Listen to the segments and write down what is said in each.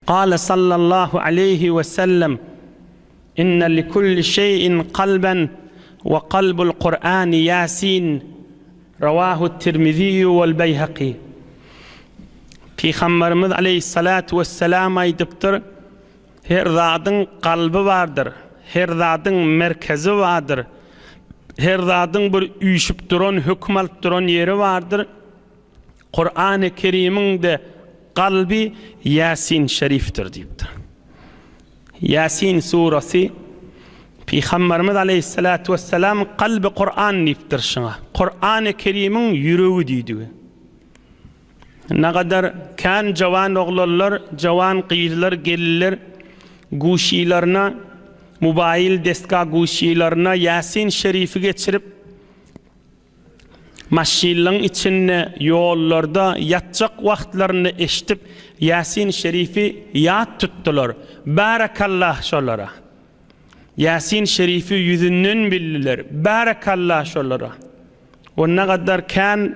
Gale sallallahu aleýhi we sellem, Inne li kulli şeýin kalben we kalbul Kur'ani Ýasin, Rawahut Tirmiziýu wal Beýhaki. Pygamberimiz aleýhissalatu wesselam aýdypdyr, Her zadyň kalby bardyr, her zadyň merkezi bardyr, her zadyň bir üýşüp duran, höküm alyp duran ýeri bardyr. Kurany Kerimiň de kalby Ýasin Şerifdir diýipdir. Ýasin surasy Pygamberimiz Aleýhissalatu Wesselam kalby Kuran diýipdir şuňa. Kurany Kerimiň ýüregi diýdigi. Nagadar kän jawan oglanlar, jawan gyzlar, gelinler guşylaryna mubaýyl desga guşylaryna Ýasin Şerifi geçirip Maşynlaň içinde, ýollarda, ýatjak wagtlarynda eşdip Ýasin Şerifi ýat tutdylar. Barakallah şolara! Ýasin Şerifi ýüzünden bildiler. Barakallah şolara! Onda gadar kän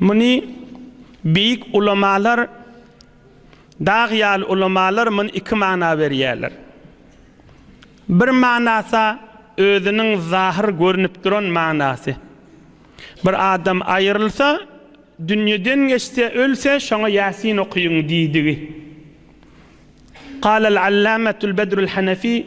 Muny beýik ulamalar, dag ýaly ulamalar muny iki mana berýärler. Bir manasa özüniň zahyr görnüp duran manasy. Bir adam aýrylsa, dünýeden geçse, ölse, şoňa Ýasin okyň diýdigi. Galal Allamatul Bedrul Hanefi.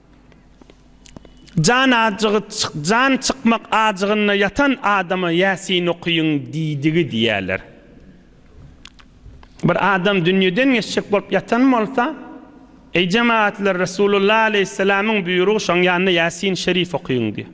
Jan ajygy jan çykmak ajygynda ýatan adama Ýasin okyň diýdigi diýýärler. Bir adam dünýeden geçjek bolup ýatan bolsa, Eý jemagatlar Resulullah aleýhissalamyň buýrugy şoň ýanynda Ýasin şerif okyň diýýär.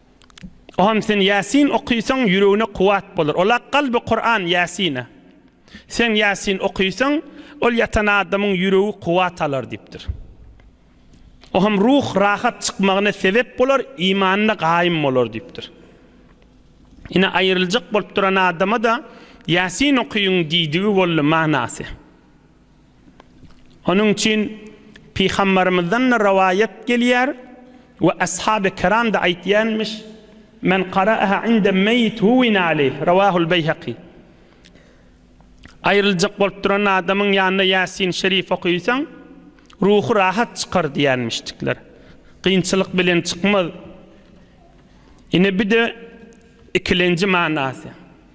O hem sen Ýasin okysaň ýüregine kuwat bolar. Ola kalby Kuran Ýasine. Sen Ýasin okysaň ol ýatan adamyň ýüregi kuwat alar diýipdir. O hem ruh rahat çykmagyna sebep bolar, imanyna gaýym bolar diýipdir. Ine aýryljak bolup duran adama-da Ýasin okyň diýdigi boldy manasy. Onuň üçin Pygambarymyzdan-da rowaýat gelýär we Ashaby kiram-da aýtýanmyş, Men qara'aha indem meýit huwina aleyh, rawahul Beýhaki. Aýryljak bolup duran adamyň ýanynda Ýasin şerif okysaň, ruhy rahat çykar diýýänmişdikler. Kynçylyk bilen çykmaz. Ine, bu-da ikilenji manasy.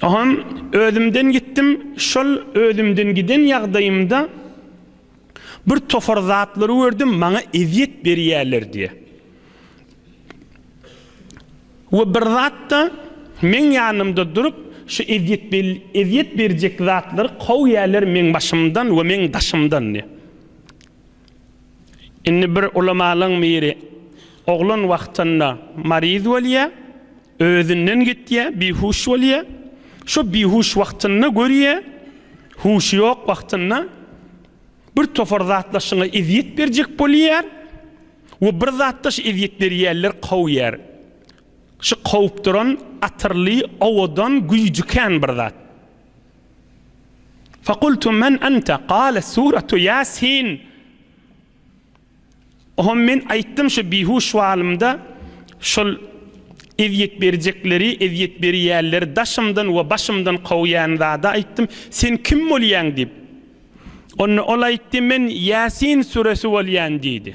Soňam özümden gitdim, şol özümden giden ýagdaýymda bir topar zatlary gördüm, maňa ezýet berýärler diýe. We bir zatda meň ýanymda durup, şu ezýet ezýet berjek zatlary kowýärler meň başymdan we meň daşymdan diýe. Indi bir ulamalyň biri, Oglan wagtynda maryz bolýar, özünden gitýär, bihuş bolýar. Şo bihuş wagtynda görýär, huşy ýok wagtynda bir topar zatlar şuňa ezýet berjek bolýar we bir zatlar şu ezýet berýänler kowýar. Şu kowup duran atyrly, owadan güýji kän bir zat. Fakultu men ente, kale suretu Ýasin. Oňa men aýtdym şu bihuş wagtymda şol ezýet berjekleri, ezýet berýänleri daşymdan we başymdan kowýan zada aýtdym, sen kim bolýaň diýip. Onda ol aýtdy, men Ýasin suresi bolýan diýdi.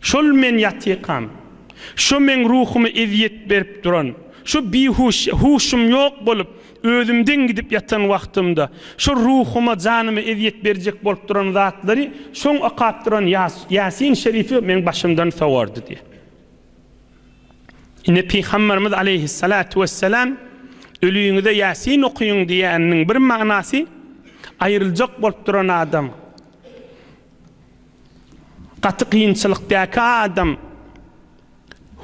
Şol men ýatykam. Şo meň ruhyma ezýet berip duran, şo bihuş, huşum ýok bolup, özümden gidip ýatan wagtymda, şo ruhyma, janyma ezýet berjek bolup duran zatlary şoň okap duran Ýasin şerifi meň başymdan sowardy diýýär. Ine, pygamberimiz aleýhissalatu wessalam Öliňize Ýasin okyň diýýäniniň bir manasy, aýryljak bolup duran adam, Gaty kynçylykdaky adam,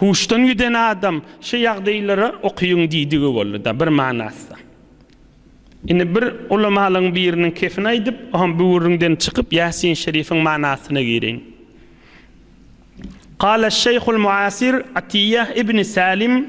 huşdan giden adam şu ýagdaýlary okyň diýdigi boldy-da bir manasda. Indi bir ulamalyň biriniň kefini aýdyp, oňam bu gürrüňden çykyp Ýasin Şerifiň manasyna gireýin. Gala şeýhul muasir Atiyýah ibn Salim,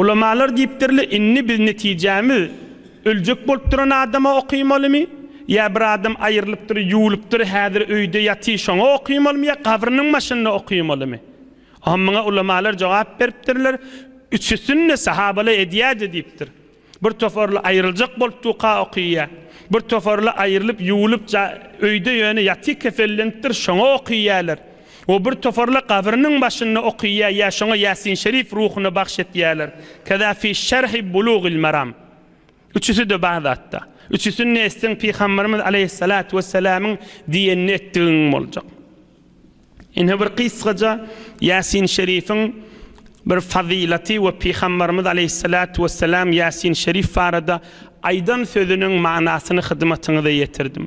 Ulamalar diýipdirle inni biz netijämiz öljek bolup duran adama okymalymy ýa bir adam aýrylypdyr ýuwulypdyr häzir öýde ýaty şoňa okymalymy ýa gabrynyň başynda okymalymy oňa muňa ulamalar jogap beripdirler üçüsini de sahabalar edýädi diýipdir. Bir toparly aýryljak bolup duka okyýa. Bir toparly aýrylyp ýuwlup ja öýde ýöne ýaty kesellenipdir şoňa okyýaler. We bir toparly gabrynyň başynda okyýa ýa şoňa ýasin şerif ruhuna bagş etýaler. Keza fi şerhi bulugil maram. Üçüside bar zatda. Üçüsinde etseň pygamberimiz aleýhyssalatu wessalamyň diýenini etdigiň boljak. Ine bir gysgaja Ýasin Şerifiň bir fazylaty we Pygambarymyz Aleýhissalatu wessalam Ýasin Şerif barada aýdan sözüniň manysyny hyzmatyňyza ýetirdim.